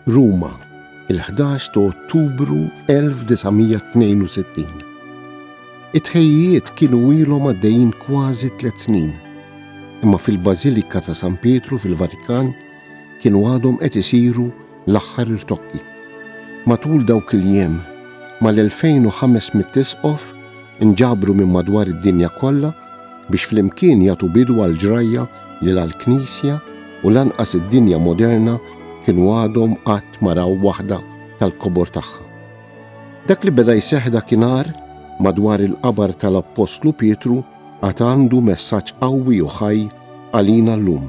Ruma, il-11 ta' Ottubru 1962. It-ħejjiet kienu ilhom għaddejjin kważi tliet snin, imma fil-Bażilika ta' San Pietru fil-Vatikan kienu għadhom qed isiru L-aħħar irtokki. Matul dawk il-jiem, mal-2,500 isqof inġabru minn madwar id-dinja kollha biex flimkien jagħtu bidu għall-ġrajja li la l-Knisja u lanqas id-dinja moderna kienu għadhom qatt ma raw waħda tal-kobor tagħha. Dak li beda jseħħ dakinhar madwar il-qabar tal-Appostlu Pietru għad għandu messaġġ qawwi u ħaj għalina llum.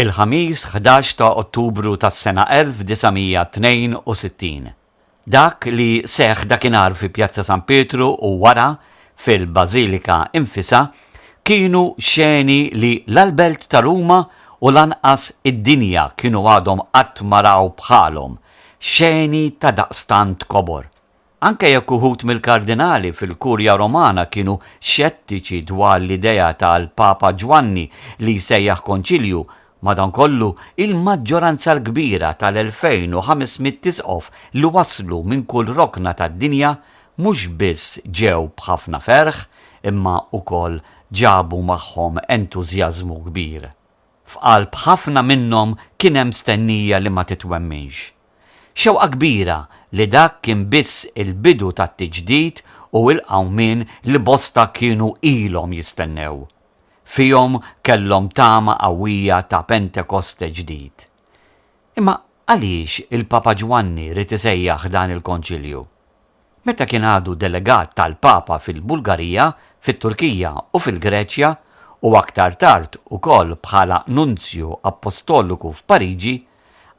il-Ħamis ħdax ta' Ottubru tas-sena 1962. Dak li seħħ dakinhar fi Pjazza San Pietru u wara fil-Bażilika infisha kienu xeni li la l-Belt ta' Ruma u lanqas id-dinja kienu għadhom qatt ma raw bħalhom, xeni ta' daqstant kobor. Anke jekk uħud mill-kardinali fil-Kurja Romana kienu xettiċi dwar l-idea tal-Papa Ġwanni li jsejjaħ Konċilju, madankollu il-maġġoranza l-kbira tal-2,500 isqof li waslu minn kull rokna tad-dinja mhux biss ġew b'ħafna ferħ imma wkoll ġabu magħhom entużjażmu kbir. F'qalb ħafna minnhom kien hemm stennija li ma titwemminx. Xewqa kbira li dak kien biss il-bidu tat-tiġdid u l-qawmien li bosta kienu ilhom jistennew. Fihom kellhom tama qawwija ta' Pentekoste ġdid. Imma għaliex il-Papa Ġwanni ried isejjaħ dan il-Konċilju? Meta kien għadu delegat tal-Papa fil-Bulgarija, fit-Turkija u fil-Greċja, u aktar tard ukoll bħala Nunzju Appostoliku f'Pariġi,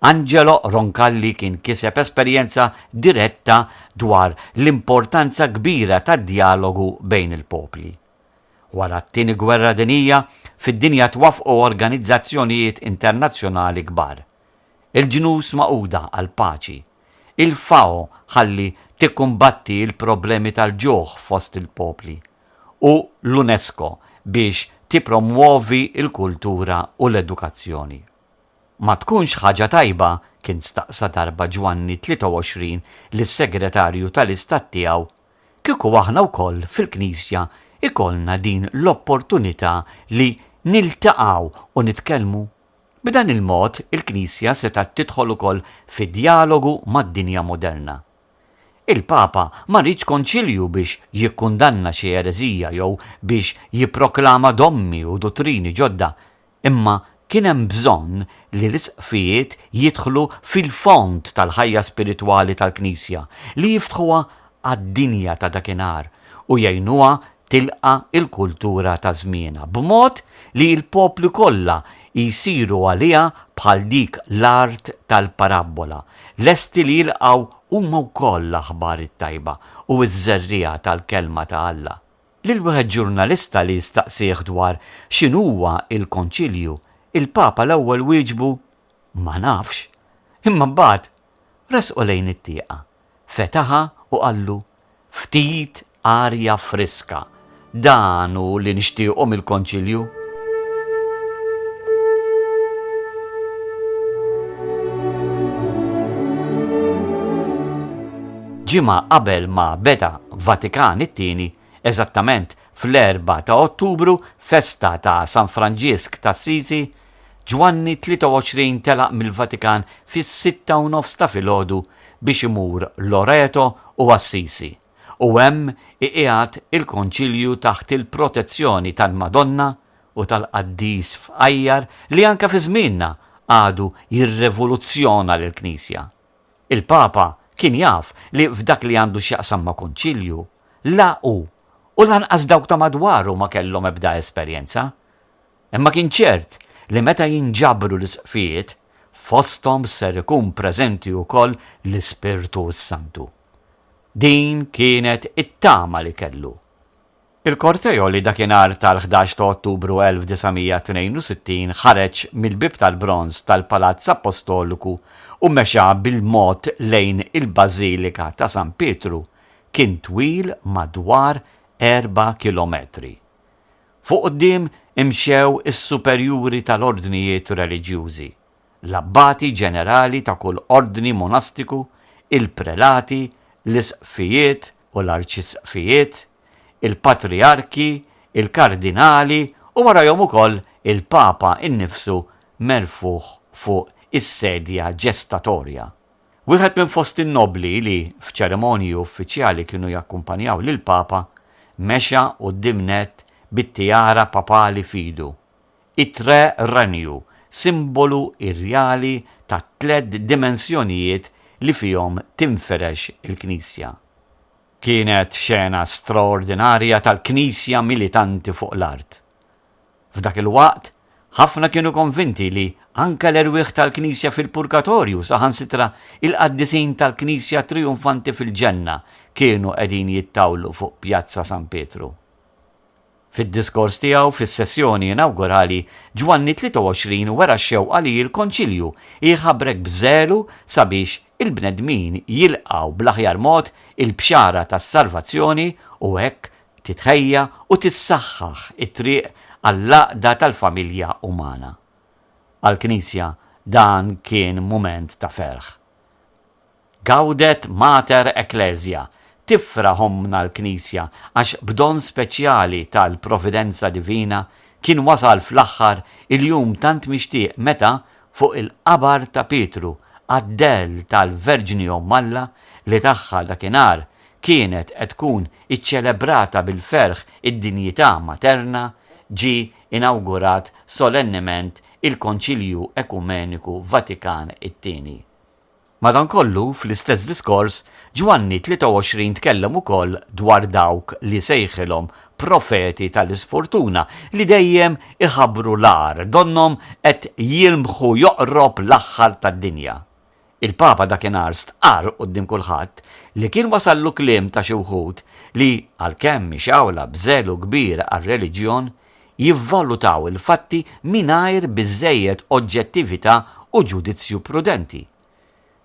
Angelo Roncalli kien kiseb esperjenza diretta dwar l-importanza kbira tad-djalogu bejn il-popli. Wara t-Tieni Gwerra Dinjija, fid-dinja twaffqu organizzazzjonijiet internazzjonali kbar, il-Ġnus Magħquda għall-Paċi, il-FAO ħalli tikkumbatti l-problemi tal-ġuħ fost il-popli, u l-UNESCO biex tippromwovi l-kultura u l-edukazzjoni. Ma tkunx ħaġa tajba, kien staqsa darba Ġwanni 23 lis-Segretarju tal-Istat tiegħu, kieku aħna wkoll fil-Knisja jkollna din l-opportunità li niltaqgħu u nitkellmu? B'dan il-mod, il-Knisja setgħet tidħol ukoll fi djalogu mad-dinja moderna. Il-Papa ma riedx konċilju biex jikkundanna xi ereżija jew biex jipproklama dommi u duttrini ġodda, imma kien hemm bżonn li l-Isqfijiet jidħlu fil-fond tal-ħajja spiritwali tal-Knisja, li jiftħuha għad-dinja ta' dakinhar u jgħinuha tilqa' l-kultura ta' żmienha, b'mod li l-popli kollha jsiru għaliha bħal dik l-art tal-parabbola, lesti li jilqgħu huma wkoll l-aħbar it-tajba u ż-żerriegħa tal-Kelma ta' Alla. Lil wieħed ġurnalista li staqsieh dwar x'inhuwa l-Konċilju, il-Papa l-ewwel wieġbu, Ma nafx. Imma mbagħad Resqu lejn it-tieqa. Fetaħha u qallu, Ftit arja friska, dan hu li nixtiequ mill-Konċilju. Ġimgħa qabel ma beda Vatikan it-Tieni, eżattament fl-4 ta' Ottubru, festa ta' San Franġisk t'Assisi, Ġwanni 23 telaq mill-Vatikan fis-sitta u nofs ta' filgħodu biex imur Loreto u Assisi u hemm iqiegħed il-Konċilju taħt il-protezzjoni tal-Madonna u tal-qaddis fqajjar li anke fi żmienna għadu jirrevoluzzjona lill-Knisja. Il-Papa kien jaf li f'dak li għandu x'jaqsam ma' Konċilju, la hu u lanqas dawk ta' madwaru ma kellhom ebda esperjenza. Imma kien ċert li meta jinġabru l-isqfijiet, fosthom ser ikun preżenti wkoll l-Ispirtu s-Santu. Din kienet it-tama li kellu. Il-korteo li dakinhar tal-ħdax ta' Ottubru 1962 ħareġ mill-Bieb tal-Bronż tal-Palazz Appostoliku u mexa bil-mod lejn il-Bażilika ta' San Pietru kien twil madwar erba' kilometri. Fuq quddiem imxew is-superjuri tal-ordnijiet reliġjużi, l-abbati ġenerali ta' kull ordni monastiku, il-prelati, l-isqfijiet u l-arċisqfijiet, il-patrijarki, il-kardinali u warajhom ukoll il-Papa innifsu merfugħ fuq is-sedja ġestatorja Wieħed minn fost in-nobbli li, f'ċerimonji uffiċjali kienu jakkumpanjaw lill-Papa, mexa quddiem nett bit-tiara papali f'idu. It-Tre Renju, simbolu irjali tat-tliet dimensjonijiet li fihom tinfirex il-Knisja. Kienet xena straordinarja tal-Knisja militanti fuq l-art. F'dak il-waqt, ħafna kienu konvinti li anke l-erwieħ tal-Knisja fil-Purgatorju, saħansitra il-qaddisin tal-Knisja trijumfanti fil-Ġenna, kienu qegħdin jittawlu fuq Pjazza San Pietru. Fid-diskors tiegħu fis-sessjoni inawgurali, Ġwanni 23 wera x-xewqa li l-Konċilju jħabrek b'żelu sabiex il-bnedmin jilqgħu bl-aħjar mod il-bxara tas-salvazzjoni u hekk Titħejja u tissaħħaħ it-triq għall-għaqda tal-familja umana. Għall-Knisja dan kien mument ta' ferħ. Gaudet Mater Ecclesia, tifraħ Ommna l-Knisja għax b'don speċjali tal-Providenza Divina kien wasal fl-aħħar il-jum tant mixtieq meta, fuq il-qabar ta' Pietru, qaddell tal-Verġni Omm Alla li tagħha dakinhar kienet qed tkun iċċelebrata bil-ferħ id-dinjità materna, ġie inawgurat solennement il-Konċilju Ekumeniku Vatikan it-Tieni. Madankollu, fl-istess diskors, Ġwanni 23 tkellem ukoll dwar dawk li sejħilhom profeti tal-isfortuna, li dejjem iħabbru l-agħar, donnhom qed jilmħu joqrob l-aħħar tad-dinja. Il-Papa dakinhar stqarr quddiem kulħadd li kien wasallu kliem ta' xi wħud li, għalkemm ixgħula b'żelu kbir għar-reliġjon, jivvalutaw il-fatti mingħajr biżżejjed oġġettività u ġudizzju prudenti.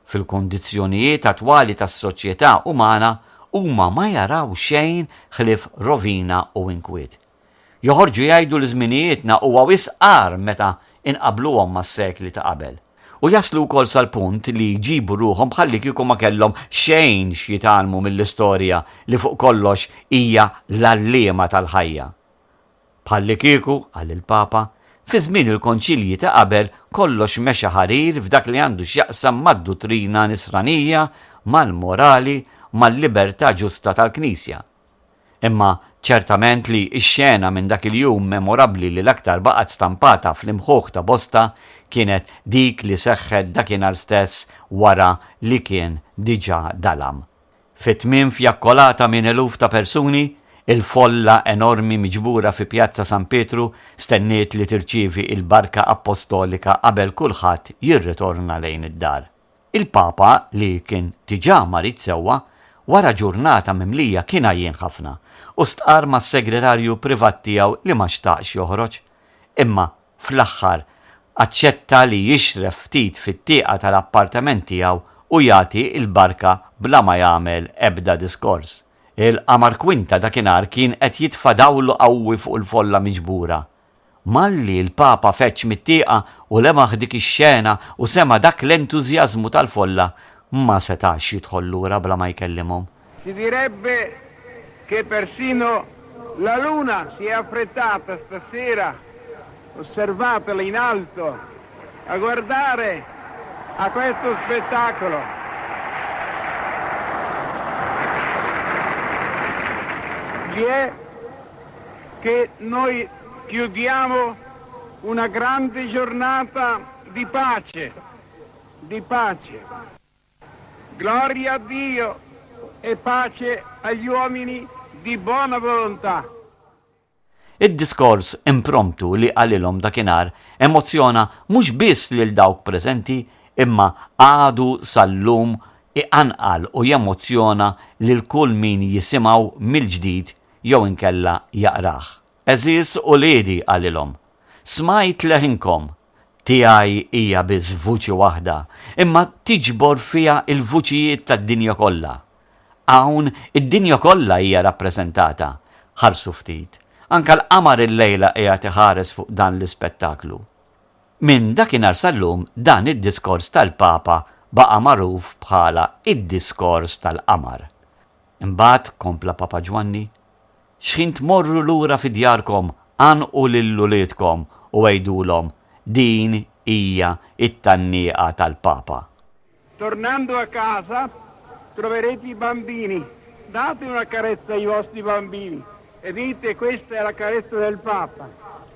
Fil-kundizzjonijiet attwali tas-soċjetà umana huma ma jaraw xejn ħlief rovina u inkwiet. Joħorġu jgħidu li żminijietna huwa wisq agħar meta inqabbluhom mas-sekli ta' qabel. U jaslu wkoll sal-punt li jġibu ruħhom bħallikieku ma kellhom xejn x'jitgħallmu mill-istorja li fuq kollox hija l-għalliema tal-ħajja. Bħallikieku, qal il-Papa, fi żmien il-Konċilji ta' qabel kollox mexa ħarir f'dak li għandu x'jaqsam mad-duttrina nisranija, mal-morali, mal-libertà ġusta tal-Knisja. Imma ċertament li x-xena minn dak il-jum memorabbli li l-aktar baqgħet stampata fl-imħuħ ta' bosta kienet dik li seħħet dakinhar stess wara li kien diġà dalam. Fi tmiem fjakkolata minn eluf ta' persuni, il-folla enormi miġbura fi Pjazza San Pietru stenniet li tirċievi il-barka appostolika qabel kulħadd jirritorna lejn id-dar. Il-Papa, li kien diġà marid sewwa, wara ġurnata mimlija kien għajjien ħafna u stqarr mas-segretarju privat tiegħu li ma xtaqx joħroġ. Imma, fl-aħħar, aċċetta li jixref ftit fit-tieqa tal-appartament tiegħu u jagħti l-barka bla ma jagħmel ebda diskors. Il-qamar kwinta dakinhar kien qed jitfa' dawlu qawwi fuq il-folla miġbura. Malli l-Papa feġġ mit-tieqa u lemaħ dik ix-xena u sema' dak l-entużjażmu tal-folla, ma setax jidħol lura bla ma jkellimhom. Si direbbe che persino la luna si è affrettata stasera, osservatela in alto, a guardare a questo spettacolo. Chi è? che noi chiudiamo una grande giornata di pace, di pace. Gloria a Dio e pace agli uomini di buona volontà. Id-diskors impromptu li qalilhom dakinhar emozzjona mhux biss lil dawk preżenti imma għadu sal-lum iqanqal u jemozzjona lil kull min jisimgħu mill-ġdid jew inkella jaqrah. Għeżież uliedi, qalilhom, smajt leħinkom, tiegħi hija biss vuċi waħda, imma tiġbor fiha l-vuċijiet tad-dinja kollha. Hawn id-dinja kollha hija rappreżentata. Ħarsu ftit, anke l-qamar illejla qiegħed iħares fuq dan l-ispettaklu. Minn dakinhar sal-lum dan id-diskors tal-Papa baqa' magħruf bħala d-diskors tal-qamar. Imbagħad, kompla Papa Ġwanni, xħin tmorru lura fi djarkom għannqu lil uliedkom u għidulhom din hija t-tgħannieqa tal-Papa. Tornando a casa, troverete i bambini, date una carezza ai vostri bambini e dite questa è la carezza del Papa.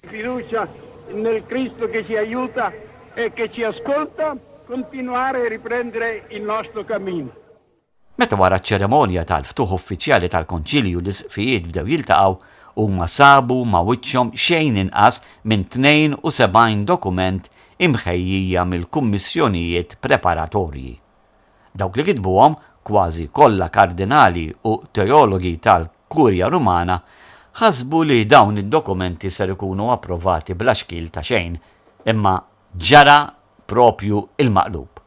Fiducia nel Cristo che ci aiuta e che ci ascolta continuare e riprendere il nostro cammino. Meta wara ċ-ċerimonja tal-ftuħ uffiċjali tal-Konċilju l-Isqfijiet bdew jiltaqgħu, huma sabu ma' wiċċhom xejn inqas minn 72 dokument imħejjija mill-kummissjonijiet preparatorji. Dawk li kitbuhom, kważi kollha kardinali u teologi tal Kurja Rumana ħasbu li dawn id-dokumenti ser ikunu approvati bla xkiel ta' xejn, imma ġara proprju l-maqlub.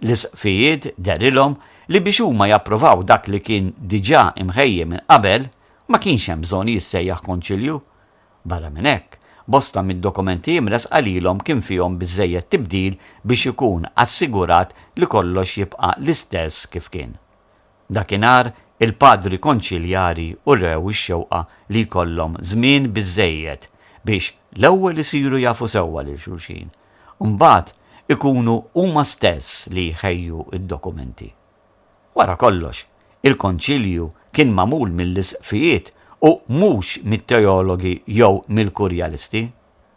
L-Isqfijiet dehrilhom li biex huma japprovaw dak li kien diġà imħejji minn qabel, ma kienx hemm bżonn jissejjaħ Konċilju. Barra minn hekk, bosta mid-dokumenti imressqa lilhom kien fihom biżżejjed tibdil biex ikun assigurat li kollox jibqa' l-istess kif kien. Dakinhar, il-Padri Konċiljari urew ix-xewqa li jkollhom żmien biżżejjed biex l-ewwel isiru jafu sewwa lil xulxin u mbagħad ikunu huma stess li jħejju d-dokumenti. Wara kollox, il-Konċilju kien magħmul mill-Isqfijiet u mhux mit-teologi jew mill-kurjalisti.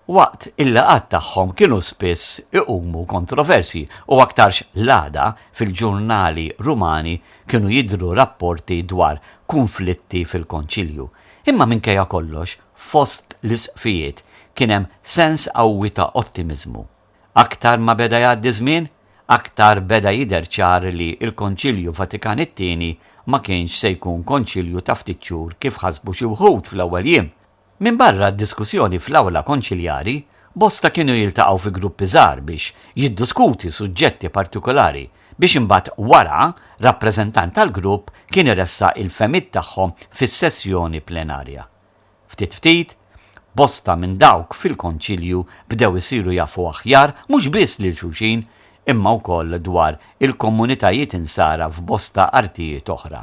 waqt il-laqgħat tagħhom kienu spiss iqumu kontroversji u aktarx l-għada fil-ġurnali Rumani kienu jidhru rapporti dwar kunflitti fil-Konċilju. Imma minkejja kollox, fost l-Isqfijiet kien hemm sens qawwi ta' ottimiżmu. Aktar ma beda jgħaddi ż-żmien, aktar beda jidher ċar li l-Konċilju Vatikan it-Tieni ma kienx se jkun Konċilju ta' ftit xhur kif ħasbu xi wħud fl-ewwel jiem Minbarra d-diskussjoni fl-Awla Konċiljari, bosta kienu jiltaqgħu fi gruppi żgħar biex jidduskuti suġġetti partikulari biex imbagħad wara rappreżentant tal-grupp kien iressaq il-fehmiet tagħhom fis-sessjoni plenarja. Ftit ftit, bosta minn dawk fil-Konċilju bdew isiru jafu aħjar mhux biss lil xulxin imma wkoll dwar il-komunitajiet Insara f'bosta artijiet oħra.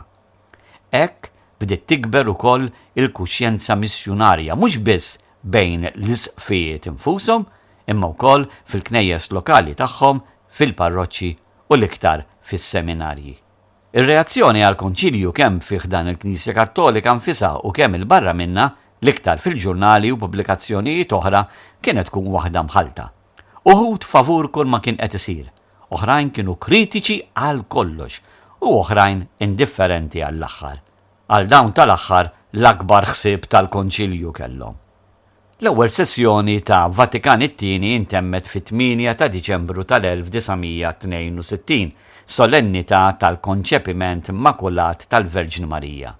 Hekk bdiet tikber ukoll il-kuxjenza missjunarja mhux biss bejn l-Isqfijiet infushom imma wkoll fil-knejjes lokali tagħhom, fil-parroċċi u l-iktar fis-seminarji. Ir-reazzjoni għall-Konċilju kemm fi ħdan il-Knisja Kattolika nfisha u kemm 'il barra minnha, l-iktar fil-ġurnali u pubblikazzjonijiet oħra, kienet tkun waħda mħallta. Uħud favur kulma kien qed isir oħrajn kienu kritiċi għal kollox u oħrajn indifferenti għall-aħħar. Għal dawn tal-aħħar l-akbar ħsieb tal-Konċilju kellhom. L-ewwel sessjoni ta' Vatikan it-Tieni intemmet fit-tmienja ta' Diċembru tal-1962, solennità tal-Konċepiment Makulat tal-Verġni Marija.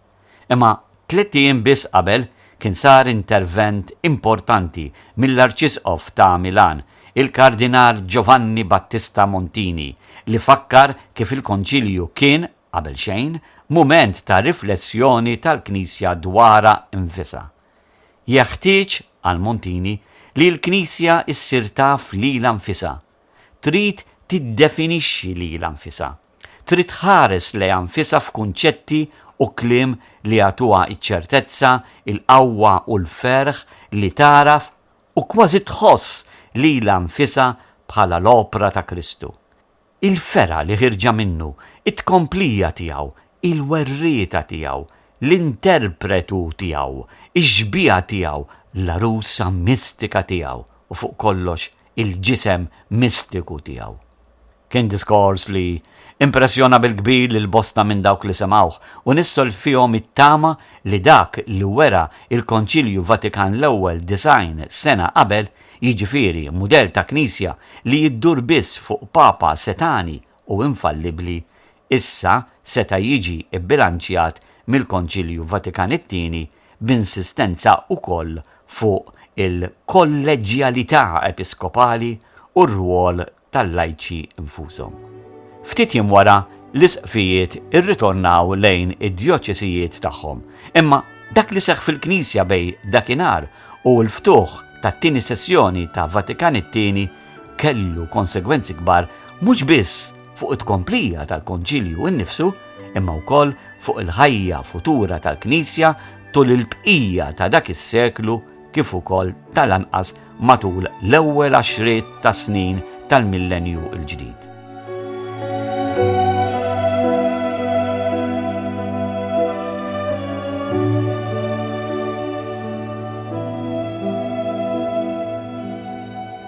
Imma tliet ijiem biss qabel kien sar intervent importanti mill-Arċisqof ta' Milan, il-Kardinal Giovanni Battista Montini, li fakkar kif il-Konċilju kien, qabel xejn, mument ta' riflessjoni tal-Knisja dwarha nfisha. Jeħtieġ, qal Montini, li l-Knisja ssir taf lilha nfisha. Trid tiddefinixxi lilha nfisha. Trid tħares lejha nfisha f'kunċetti u kliem li jagħtuha ċ-ċertezza, il-qawwa u l-ferħ li tagħraf u kważi tħoss lilha nfisha bħala l-opra ta' Kristu. Il-fergħa li ħierġa minnu, it-tkomplija tiegħu, il-werrieta tiegħu, l-interpretu tiegħu, ix-xbieha tiegħu, l-għarusa mistika tiegħu u fuq kollox il-ġisem mistiku tiegħu. Kien diskors li impressjona bil-kbir lil bosta minn dawk li semgħuh u nissol fihom it-tama li dak li wera l-Konċilju Vatikan l-Ewwel disgħin sena qabel, jiġifieri mudell ta' Knisja li iddur biss fuq Papa setgħani u infallibbli, issa seta' jiġi bbilanċjat mill-Konċilju Vatikan it-Tieni b'insistenza wkoll fuq il-kolleġġjalità episkopali u r-rwol tal-lajċi nfushom. Ftit jiem wara, l-isqfijiet irritornaw lejn id-djoċesijiet tagħhom, imma dak li seħħ fil-Knisja bejn dakinhar u l-ftuħ tat-tieni sessjoni ta' Vatikan it-Tieni kellu konsegwenzi kbar mhux biss fuq it-tkomplija tal-Konċilju innifsu, imma wkoll fuq il-ħajja futura tal-Knisja tul il-bqija ta' dak is-seklu kif ukoll tal-anqas matul l-ewwel għaxriet ta' snin tal-Millenju l-Ġdid.